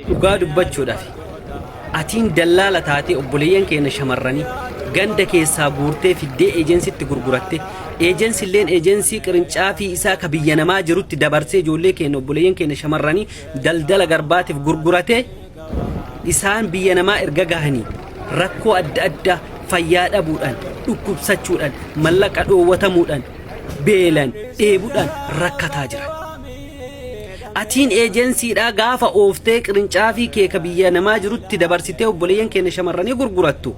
Dhugaa dubbachuudhaaf atiin dallaala taatee obboleeyyan keenya shamarranii ganda keessaa guurtee fiddee eejensitti gurguratte eejensi illeen eejensii qirincaafii isaa ka biyya namaa jirutti dabarsee ijoollee keenya obboleeyyan keenya shamarranii daldala garbaatiif gurguratee isaan biyya namaa erga gahanii rakkoo adda addaa fayyaa dhabuudhaan dhukkubsachuudhaan mallaqa dhoowwatamuudhaan beelan dheebudhaan rakkataa jiran. Atiin ejensiidhaa gaafa ooftee qirincaafii kee ka biyya namaa jirutti dabarsitee obboleeyyan keenya shamarranii gurgurattu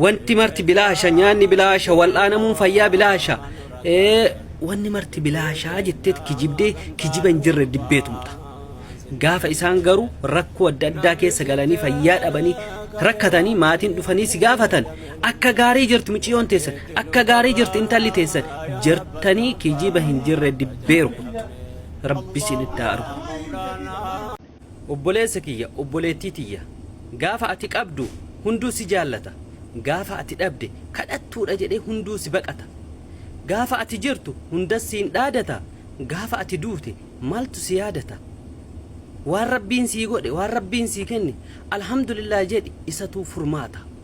wanti marti bilaasha nyaanni bilaasha wal'aanamuun fayyaa bilaasha ee, wanni marti bilaashaa jetteet kijibdee kijiba hin jirre dibbee tumta. Gaafa isaan garuu rakkoo adda addaa keessa galanii fayyaa dhabanii rakkatanii maatiin dhufanii si gaafatan Akka gaarii jirti muciyyoon teessan akka gaarii jirti intalli teessan jirtanii kijiba hin jirre dibbee rukuttu rabbi isin itti haa argu. Obboleessa kiyya obboleettii tiyya gaafa ati qabdu hunduu si jaallata gaafa ati dhabde kadhattuudha jedhee hunduu si baqata gaafa ati jirtu hundas siin dhaadata gaafa ati duute maaltu si yaadata waan rabbiin sii godhe waan rabbiin sii kenne alhamdulillah jedhi isatuu furmaata.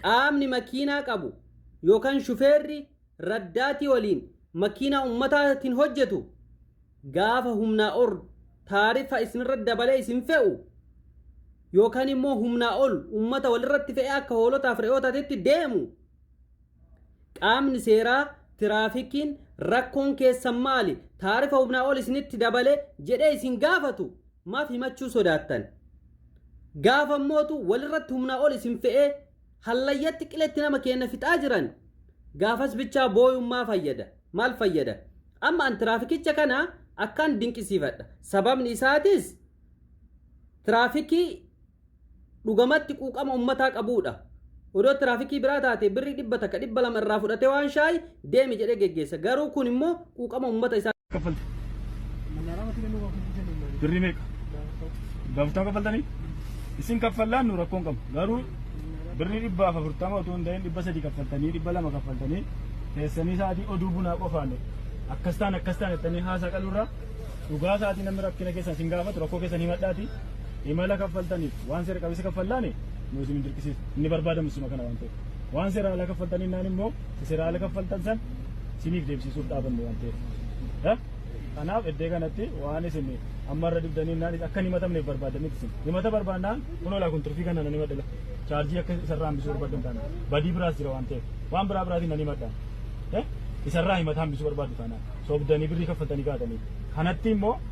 Qaamni makiinaa qabu yookan shufeerri raddaatii waliin makiinaa ummataatin hojjetu gaafa humnaa or taariffa isinirra dabalee isin fe'u yookan immoo humnaa ol ummata walirratti fe'ee akka hoolotaaf re'ootatetti deemu Qaamni seeraa tiraafikiin rakkoon keessan maali? Taarifa humnaa ol isinitti dabale jedhee isin gaafatu maaf himachuu sodaattan? Gaafa mootu walirratti humnaa ol isin fe'ee hallayyatti qiletti nama keenya fixaa jiran gaafas bichaa booyuun maa fayyada? Maal fayyada? Amma an tiraafikicha kana akkaan dinqisiifadha. Sababni isaatis tiraafikii dhugamatti quuqama ummataa qabuudha. Odoo tiraafikii biraa taate birrii dhibba takka dhibba lama irraa fudhatee waan shaayi deemi jedhee geggeessa. Garuu kun immoo quuqama ummata isaa. kaffalte? Birrii meeqa? Gaaftaa kaffaltanii? Isin kaffallaan nu rakkoon qabu. Garuu birrii dhibba afurtama otoo hin ta'in dhibba sadii kaffaltanii dhibba lama kaffaltanii teessanii sa'aatii oduu bunaa qofaan akkas taan akkas taan jettanii haasaa qalurraa dhugaa sa'aatii namni rakkina keessan isin gaafatu rakkoo keessan himadhaati. Imala kaffaltaniif waan seera qabeessa kaffallaani nu isin hin dirqisiisu. Inni barbaadamu suma kana waan ta'eef. Waan seera ala kaffaltan innaan immoo isa seera ala kaffaltan san siniif deebisiisuuf dhaabanne waan ta'eef. Ya? Kanaaf iddee kanatti waan isin amma irra dibdanii innaan akka hin himatamneef barbaadaniif isin. Himata barbaannaan kun olaa kun turfii kana nan himadhila. Chaarjii akka isarraa hambisuu barbaaddan taana. Badii biraas jira waan ta'eef. Waan biraa biraatiin nan himadhaan. Ya? Isarraa himata hambisuu barbaaddu taana. Sobdanii birrii kaffaltanii kaatanii. Kanatti immoo